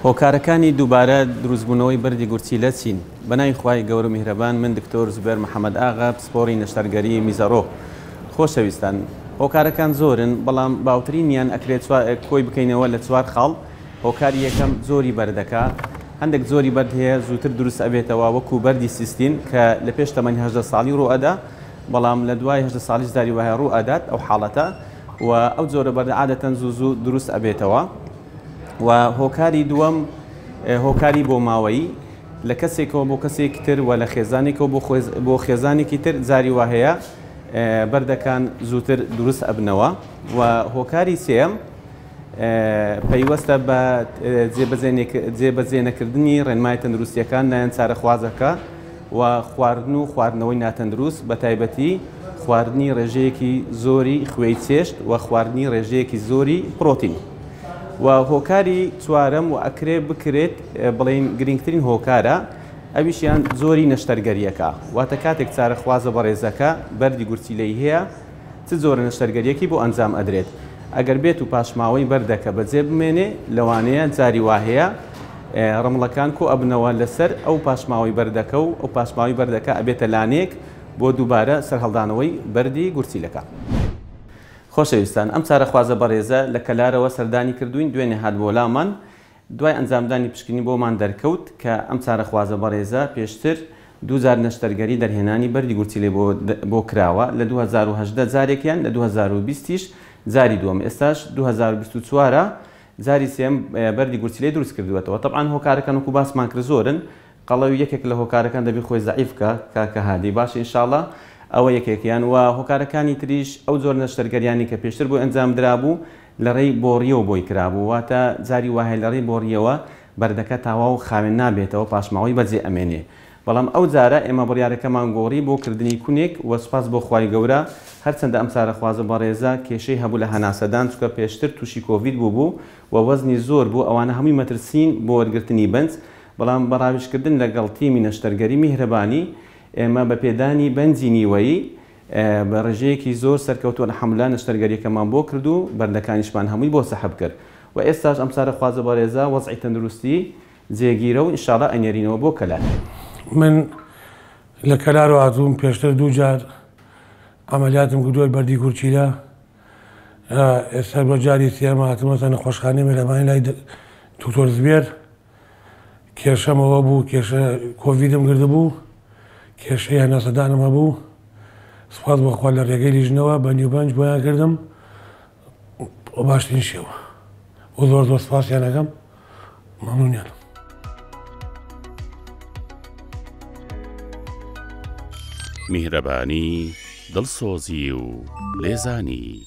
هۆکارەکانی دووبارە دروستبوونەوەی بەردی گورچیلە چین؟ بەناوی خوای گەورو میهرەبان من دکتۆر زبێر محمد ئاغا پسپۆری نەشتەرگەری میزەڕۆ خۆشەویستان هۆکارەکان زۆرن بەڵام باوترینیان ئەکرێ چوار کۆی بکەینەوە لە چوار خاڵ هۆکاری یەکەم جۆری بەردەکە هەندێک جۆری بەرد هەیە زووتر دروست ئەبێتەوە وەکو بەردی سیستین کە لە پێش تەمەنی هەژدە ساڵی ڕوو ئەدا بەڵام لە دوای هەژدە ساڵیش داری وایە ڕوو ئەدات ئەو حاڵەتە و ئەو جۆرە بەردە عادەتەن زوو زوو دروست ئەبێتەوە و هۆکاری دووەم هۆکاری بۆماوەیی لە کەسێکەوە بۆ کەسێکی تر و لە خێزانێکەوە بۆ خۆێز- بۆ خێزانێکی تر جاری وا هەیە ئێ، بەردەکان زووتر دروست ئەبنەوە و هۆکاری سێیەم ئێ، پەیوەستە بە ئێ، جێبەجێ نێک- جێبەجێ نەکردنی ڕێنمای تەندروستییەکان لایەن چارەخوازەکە و خواردن و خواردنەوەی ناتەندروست بە تایبەتی خواردنی ڕێژەیەکی زۆری خوێی چێشت و خواردنی ڕێژەیەکی زۆری پڕۆتین. و هۆکاری چوارەم و ئەکرێ بکرێت بڵین گرنگترین هۆکارە ئەویشیان زۆری نەشتەرگەریەکە واتە کاتێک چارەخوازە بەڕێزەکە بەری گورچیلەی هەیە چ زۆرە نەشتەرگەریەکی بۆ ئەنجام ئەدرێت ئەگەر بێت و پاشماوەی بەردەکە بەجێ بمێنێ لەوانەیە جاری واهەیە ڕمڵەکان کۆ ئەبنەوە لەسەر ئەو پاشماوەی بەردەکە و ئەو پاشماوی بەردەکە ئەبێتە لانێک بۆ دووبارە سەرهەڵدانەوەی بەردی گورچیلەکە. خۆشەویستان ئەم چارەخوازە بەڕێزە لە کەلارەوە سەردانی کردووین دوێنێ هات بۆ لامان دوای ئەنجامدانی پشکنین بۆمان دەرکەوت کە ئەم چارەخوازە بەڕێزە پێشتر دوو جار نەشتەرگەری دەرهێنانی بەردی گورچیلەی بۆ بۆ کراوە لە دوو هەزار و هەژدە جارێکیان لە دوو هەزار و بیست یش جاری دووەم ئێستاش دوو هەزار و بیست و چوار جاری سێم بەردی گورچیلەی دروست کردووەتەوە تەبعەن هۆکارەکان وەکو باسمان کرد زۆرن قەڵەوی یەکێک لە هۆکارەکان دەبی خۆی زەعیف بکا کاکە هادی باشە انشااللە ئەوە یەکێکیان وە هۆکارەکانی تریش ئەو جۆرە نەشتەرگەریانەی کە پێشتر بۆی ئەنجام درابوو لە ڕێی بۆڕیەوە بۆی کرابوو واتە جاری وایە لە ڕێی بۆڕیەوە بەردەکە تاواو خاوێن نابێتەوە پاشماوەی بەجێ ئەمێنێ بەڵام ئەو جارە ئێمە بڕیارەکەمان گۆڕی بۆ کردنی کونێک وە سوپاس بۆ خوای گەورە هەرچەندە ئەم چارەخوازە بەڕێزە کێشەی هەبوو لە هەناسەدان چونکە پێشتر توشی کۆڤید بووبوو وە وەزنی زۆر بوو ئەوانە هەمووی مەترسین بۆ وەرگرتنی بنج بەڵام بە ڕاویژکردن لەگەڵ تیمی نەشتەرگەری میهرەبانی، ئێمە بە پێدانی بەنجی نیوەیی بە ڕێژەیەکی زۆر سەرکەوتوو الحمدللە نەشتەرگەریەکەمان بۆ کرد و بەندەکانیشمان هەمووی بۆ سەحب کرد و ئێستاش ئەم چارەخوازە بەڕێزە وەزعی تەندروستی جێگیرە و انشاللە ئەینێرینەوە بۆ کەلار. من لە کەلار هاتووم پێشتر دوو جار عەمەلیاتم کردووە بەردی گورچیلە ئێستا بۆ جاری سێیەم هاتوومەتە نەخۆشخانەی میهرەبانی لای دکتۆر زبێر. کێشەم ئەوە بوو کێشە کۆڤیدم گردبوو کێشەی هەناسەدانم هەبوو سپاس بەخوا لە ڕێگەی لیژنەوە بە نیوبەنج بۆیان کردم بە باشترین شێوە و زۆر زۆر سپاسیانەکەم مەمنونیان میهرەبانی دڵسۆزی و لێزانی